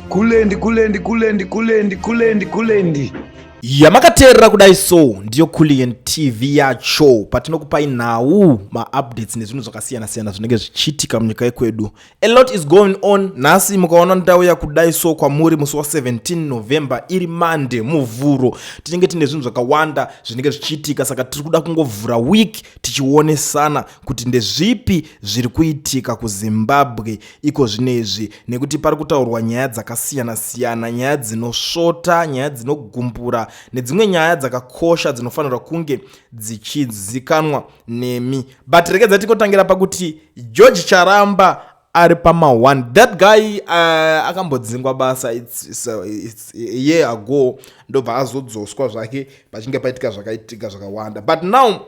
kulendi kulendi kulendi kulendi kulendi kulendi yamakateerera kudai so ndiyo kulien tv yacho patinokupai nhau maupdates nezvinhu zvakasiyana-siyana zvinenge zvichiitika munyika yekwedu a lot is going on nhasi mukaona ndauya kudai so kwamuri musi wa17 november iri mande muvhuro tinenge tine zvinhu zvakawanda zvinenge zvichiitika saka tiri kuda kungovhura week tichionesana kuti ndezvipi zviri kuitika kuzimbabwe iko zvino izvi nekuti pari kutaurwa nyaya dzakasiyana-siyana nyaya dzinosvota nyaya dzinogumbura nedzimwe nyaya dzakakosha dzinofanirwa kunge dzichizikanwa nemi but rekedza tikotangira pakuti george charamba ari pama one that guy uh, akambodzingwa basa it's, it's, uh, it's a year ago ndobva azodzoswa zvake pachinge paitika zvakaitika zvakawanda but now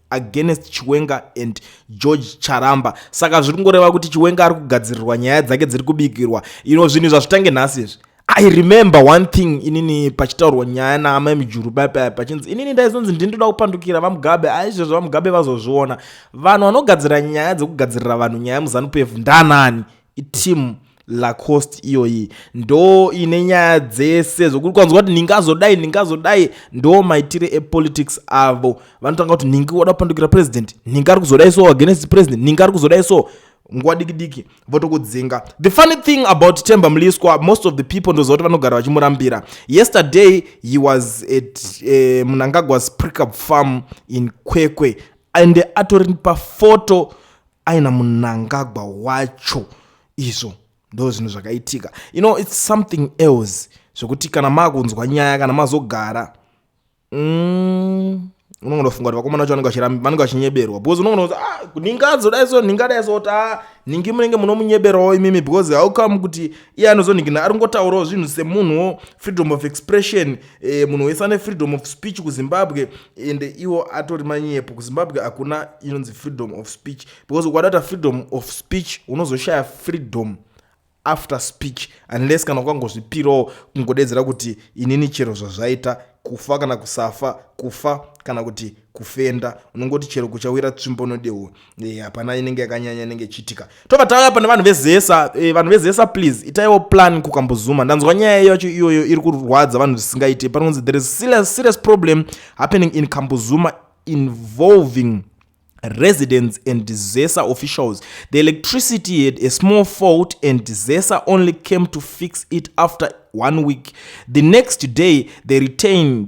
against chiwenga and george charamba saka zviri kungoreva kuti chiwenga ari kugadzirirwa nyaya dzake dziri kubikirwa ino zvinhu zvazvitange nhasi izvi i remember one thing inini pachitaurwa nyaya naamai mujuru baipai pachinzi inini ndaizonzi ndini ndoda kupandukira vamugabe aizvezvo vamugabe vazozviona vanhu vanogadzira nyaya dzekugadzirira vanhu nyaya muzanupf ndanani Team Lacoste iyoyi ndo ine nyaya dzese zvokuti kwanzwa kuti ndingazodai ndingazodai ndo maitire epolitics avo vanotanga kuti nhingi wada kupandukira president nhingi ari kuzodai so against president nhingi ari kuzodai so nguva diki diki votokudzinga the funny thing about temba mliswa most of the people ndoziva kuti vanogara vachimurambira yesterday he was at uh, eh, munangagwa's prickup farm in kwekwe and atori pafoto aina munangagwa wacho izvo ndo zvinhu zvakaitika you know its something else zvekuti kana makunzwa nyaya kana mazogara mm, unongonofunga kuti vakomana vacho vanenge vachinyeberwa because unongonoti ah, ningadzo dai so ningadai so kuti ah, ningi munenge munomunyeberawo imimi because how come kuti iye anozoningina ari kungotaurawo zvinhu semunhuwo freedom of expression eh, munhu wese ane freedom of speech kuzimbabwe ende iwo atori manyepo kuzimbabwe hakuna inonzi freedom of speech because ukadata freedom of speech unozoshaya freedom after speech unless kana ukangozvipirawo kungodedzera kuti inini chero zvazvaita kufa kana kusafa kufa kana kuti kufenda unongoti chero kuchawira tsvimbo nodehwo Eh, hapana e, inenge yakanyanya inenge ichiitika tobva tauya pane vanhu vezesa e, vanhu vezesa please itaiwo plan kukambozuma ndanzwa nyaya yacho iyoyo iri kurwadza vanhu zvisingaite panonzi there is serious, serious problem happening in kambozuma involving residents and zesa officials the electricity had a small fault and zesa only came to fix it after one week the next day they retained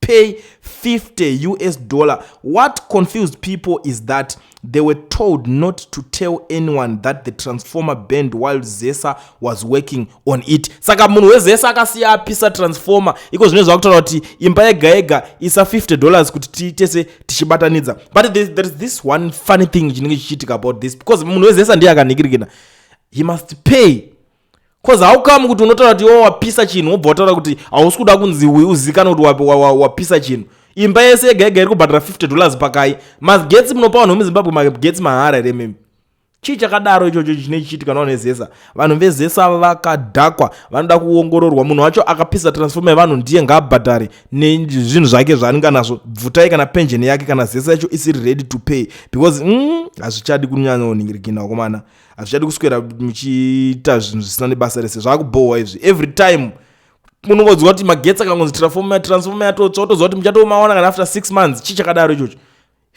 pay 50 us dollar what confused people is that they were told not to tell anyone that the transformer band while zesa was working on it saka munhu wezesa akasiya apisa transformer iko zvine zvakutaura kuti imba yega yega isa 50 dollars kuti tiitese tichibatanidza but there, there is this one funny thing chinenge chichiitika about this because munhu wezesa ndiye akanikirikina he must pay bcoz haukamu kuti unotaura kuti iwe wapisa chinhu wobva wataura kuti hausi kuda kunzi uzikanwe kuti wapisa chinhu imba yese yega yega iri kubhadhara 50 dollars pakai magetsi munopa vanhu vemuzimbabwe magetsi mahara here mimi chii chakadaro ichocho chine chichiitika navanhu vezesa vanhu vezesa vakadhakwa vanoda kuongororwa munhu wacho akapisa transforma yevanhu ndiye ngaabhadhare nezvinhu zvake zvaanenge anazvo bvutai kana pension yake kana zesa yacho isiri ready to pay because mm, hazvichadi mm, kunyanya unhingirikina wakomana hazvichadi kuswera muchiita zvinhu zvisina nebasa rese zvakubhohwa izvi every time unongonzwa kuti magetsi akangonzi transforma transforma yatotsva otoziva kuti muchatomaona kana after six months chii chakadaro ichocho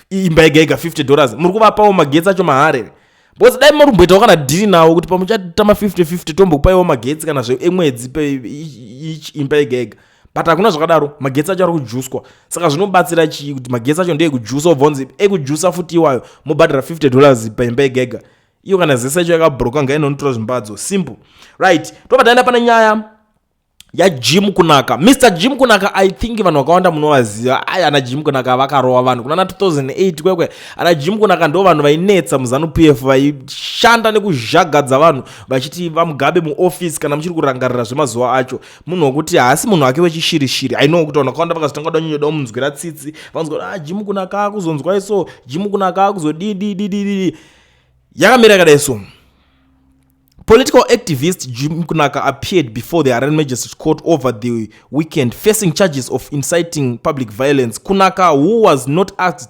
imba yega yega 50 dollars muri kuvapawo magetsi acho maharere because dai morumboitawo kana dhiri nawo kuti pamuchatama 50 50 tombokupaiwo magetsi kana zve emwedzi pe each imba yega yega but hakuna zvakadaro magetsi acho ari kujuswa saka zvinobatsira chii kuti magetsi acho ndeekujusa obvonzi ekujusa futi iwayo mobhadhara 50 dollars paimba yegega iyo kana zese yacho yakabroka ngainonotora zvimbadzo simple right tobva taenda pane nyaya yajim kunaka mr jim kunaka i think vanhu vakawanda munovaziva ai ana jim kunaka vakarova vanhu kunana 2008 kwekwe ana jim kunaka ndo vanhu vainetsa muzanu p f vaishanda nekuzhagadza vanhu vachiti vamugabe muofisi kana muchiri kurangarira zvemazuva acho munhu wokuti haasi munhu wake wechishirishiri i know kuti vanhu vakawanda vakazotanga kuda nyonyoda omunzwira tsitsi vanonzwa kuti ah jimu kunakaa kuzonzwa iso jimu kunakaa kuzodidididididi yakamira yakadai so Political activist Jim Kunaka appeared before the Haran Magistrate Court over the weekend facing charges of inciting public violence. Kunaka, who was not asked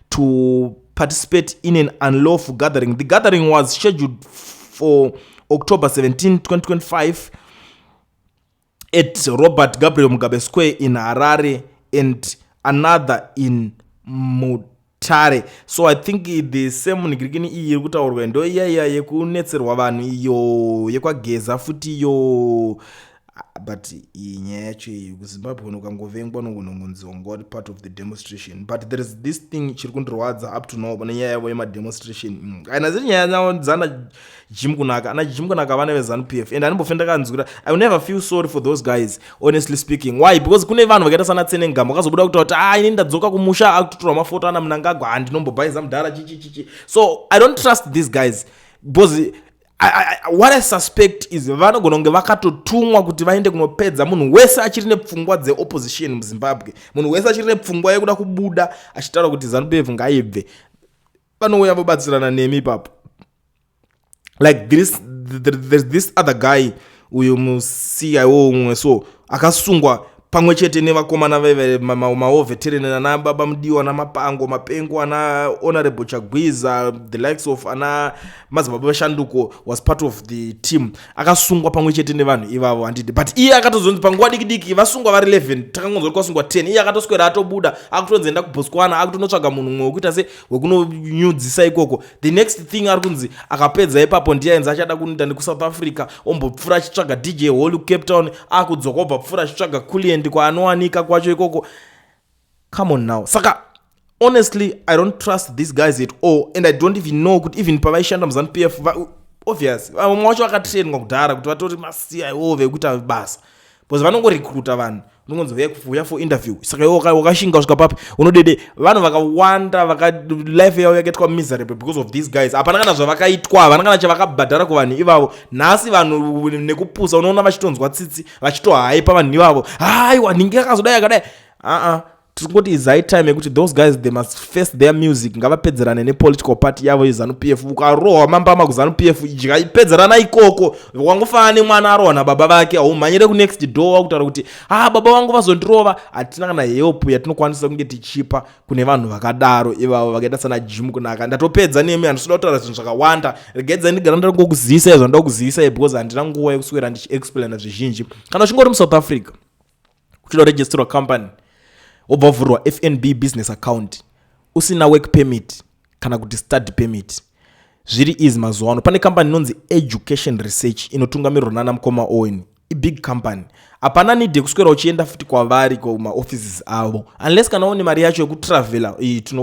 to participate in an unlawful gathering. The gathering was scheduled for October 17, 2025 at Robert Gabriel Mugabe Square in Harare and another in Mut tare so i think the same nigirikini iyi iri kutaurwa ndo iya iya yekunetserwa vanhu iyo yekwageza futi iyo Ah, but iyi nyaya yacho iyi kuzimbabwe kuno ukangovengwa unongonongonziwa ngoa uri part of the demonstration but there is this thing chiri kundirwadza up to now pane nyaya yavo yemademonstration mm, kana dziri nyaya dzavo dzana jim kunaka ana jim kunaka vana vezanup f and animbofe ndakanzwira i will never feel sorry for those guys honestly speaking why because kune vanhu vakaita sana tsenengamba vakazobuda kutaura kuti a ah, ini ndadzoka kumusha akutotora mafoto ana munangagwa handinombobhaiza mudhara chichichichi so i don't trust these guys because what i suspect is vanogona kunge vakatotumwa kuti vaende kunopedza munhu wese achiri nepfungwa dzeopposition muzimbabwe munhu wese achiri nepfungwa yekuda kubuda achitaura kuti zanupf ngaibve vanouya vobatsirana nemi ipapo like this there's this other guy uyo muCIO umwe so akasungwa pamwe chete nevakomana veve maovetereni ma, ma, ana baba mudiwa ana mapango mapengo ana honorable chagwiza the likes of ana madzibaba veshanduko was part of the team akasungwa pamwe chete nevanhu ivavo handidi but iye akatozonzi panguva diki diki vasungwa vari 11 takangonzwa kuti kwasungwa 10 iye akatoswera atobuda akutonzi enda kubotswana akutonotsvaga munhu mumwe wekuita se wekunonyudzisa ikoko the next thing ari kunzi akapedza ipapo ndiye ainzi achada kunoita nekusouth africa ombopfura achitsvaga dj holu cape town akudzoka obva pfura achitsvaga kuliendi kwaanowanika kwacho ikoko come on now saka honestly i don't trust these guys at all and i don't even know kuti even pavaishanda muzanu p f obvious vamwe wacho vakatrainwa kudhara kuti vatori masiya iwo vekuita basa bcause vanongorekruta vanhu unongonzi huya kuuya for interview saka iwe wakashinga kusvika papi unodede vanhu vakawanda vaka life yavo yakaitwa miserable because of these guys hapana kana zvavakaitwa havana kana chavakabhadhara kuvanhu ivavo nhasi vanhu nekupusa unoona vachitonzwa tsitsi vachitohaipa vanhu ivavo haiwa nhingi akazodai akadai aa tirikungoti izai time yekuti those guys they must face their music ngavapedzerane nepolitical party yavo yezanu p f ukarohwa mambama kuzanu p f idya pedzerana ikoko wangofanana nemwana arohwa nababa vake haumhanyire kunext door wakutaura kuti ha baba vangu vazondirova hatina kana help yatinokwanisa kunge tichipa kune vanhu vakadaro ivavo vakaita sana jim kunaka ndatopedza nemi handisida kutaura zvinhu zvakawanda regaidza ndigara ndari kukuzivisa izvo ndoda kukuzivisa because handina nguva yekuswera ndichiexplaina zvizhinji kana uchingori muSouth Africa uchida kuregisterwa company wobva vhurwa fnb business account usina work permit kana kuti study permit zviri easy mazuva ano pane kambani inonzi education research inotungamirirwa nana mukoma owen ibig company hapana need yekuswera uchienda futi kwavari kumaoffices avo unless kana une mari yacho yekutravela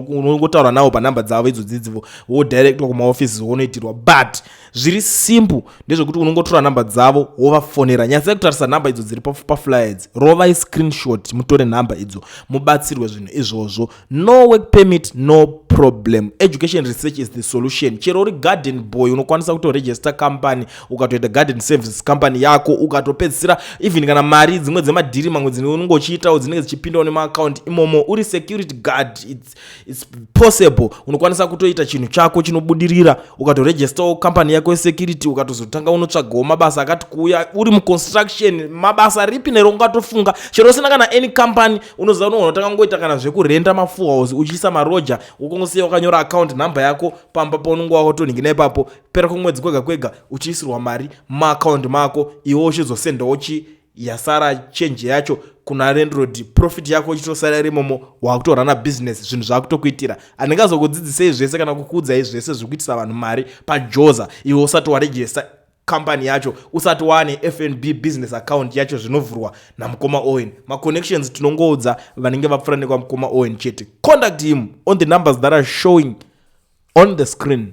unongotaura navo panumber dzavo idzodzidzivo wodirectwa kumaoffices wonoitirwa but zviri simple ndezvekuti unongotora nhamba dzavo wovafonera nyasai kutarisa nhamba idzo dziri paflyer idzi rovai screenshot mutore nhamba idzo mubatsirwe zvinhu izvozvo no work permit no problem education research is the solution chero uri garden boy unokwanisa kutoregister company ukatoita garden services company yako ukatopedzisira even kana mari dzimwe dzemadhiri mamwe dzine unonge uchiitawo dzinenge dzichipindawo nemaakaunti imomo uri security guard It's possible unokwanisa kutoita chinhu chako chinobudirira ukatoregistawo company yako yesecurity ukatozotanga unotsvagawo mabasa akati kuuya uri muconstruction mabasa ripi nero ungatofunga chero usina kana any company unoziva unogona kutanga ngoita kana zvekurenda mafuhouse uchiisa maroja ukongosiya wakanyora account number yako pamba paunenge wakotonhingina ipapo pera kwemwedzi kwega kwega uchiisirwa mari maaccount mako iwe uchizosendawo chi yasara chenje yacho kuna rendrod profit yako ichitosara irimomo wakutorana business zvinhu zvakutokuitira anenge azokudzidzisei zvese kana kukuudzai zvese zvekuitisa vanhu mari pajoza iwe usati warejesta kambani yacho usati waane fnb business account yacho zvinovhurwa namukoma owen maconnections tinongoudza vanenge vapfura nekwamukoma owen chete contact him on the numbers that are showing on the screen